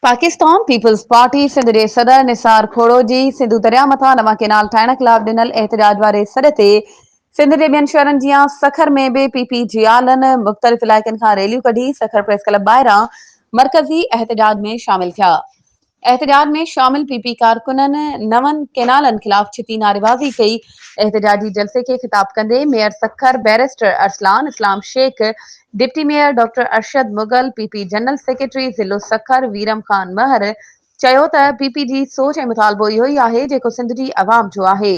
Pakistan Peoples Party Sindh جي صدر نثار کوڙو جي سنڌو درياهه مٿان نوان ڪينال ٺاهڻ خلاف ڏنل احتجاج واري سڏ تي سنڌ جي ٻين شهرن جيان سکر ۾ به پي پي جي آلن مختلف علائقن کان ريليون ڪڍي سکر پريس ڪلب ٻاهران مرڪزي احتجاج ۾ شامل ٿيا. احتجاج ۾ شامل پي پي ڪارڪنن نون ڪينالن خلاف ڇتي نعريبازي ڪئي. احتجاجي جلسي کي خطاب ڪندي mayor Sukkur barrister Arsalan Islam Shaikh, deputy mayor doctor Arshad Mughal, P P general secretary ضلع سکر ويرم خان مهر چيو ته پي پي جي سوچ ۽ مطالبو اهو ئي آهي جيڪو سنڌ جي عوام جو آهي.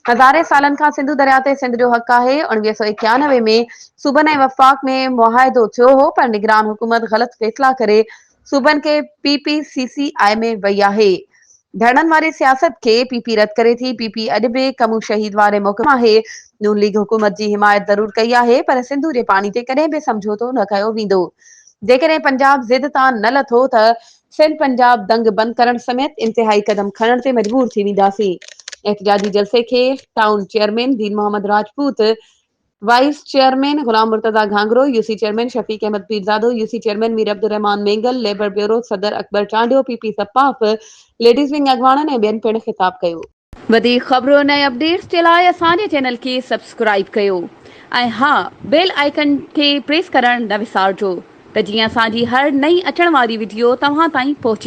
هزارين سالن کان سنڌو درياء تي سنڌ جو حق آهي، اڻويهه سؤ ايڪيانوي ۾ صوبن ۽ وفاق ۾ معاهدو ٿيو هو پر نگران حڪومت غلط فيصلا ڪري صوبن کي P P C C I ۾ وئي آهي ڌرڻن واري سياست کي پي پي رد ڪري ٿي پي پي اڄ به ڪمون شهيد واري موقف آهي نون ليگ حڪومت جي حمايت ضرور ڪئي آهي پر سنڌو جي پاڻي تي ڪڏهن به سمجهوتو نه ڪيو ويندو جيڪڏهن پنجاب ضد تان نه لٿو ته سنڌ پنجاب دنگ بند ڪرڻ سميت انتهائي قدم کڻڻ تي مجبور ٿي وينداسين احتجاجي جلسي کي town chairman Din Muhammad Rajput vice chairman Ghulam Murtaza Ghanghro, U C chairman Shafiq Ahmed Pirzado, U C chairman Mir Abdulrahman Mengal, labour bureau صدر اڪبر چانڊيو، پي پي سپاف ليڊيز ونگ اڳواڻن ۽ ٻين پڻ خطاب ڪيو. وڌيڪ خبرن ۽ اپڊيٽس جي لاء اسان جي چينل کي سبسڪرائيب ڪيو ۽ ها بيل آئيڪن کي پريس ڪرڻ نه وسارجو ته جيئن اسان جي هر نئين اچڻ واري وڊيو توهان تائين پهچي.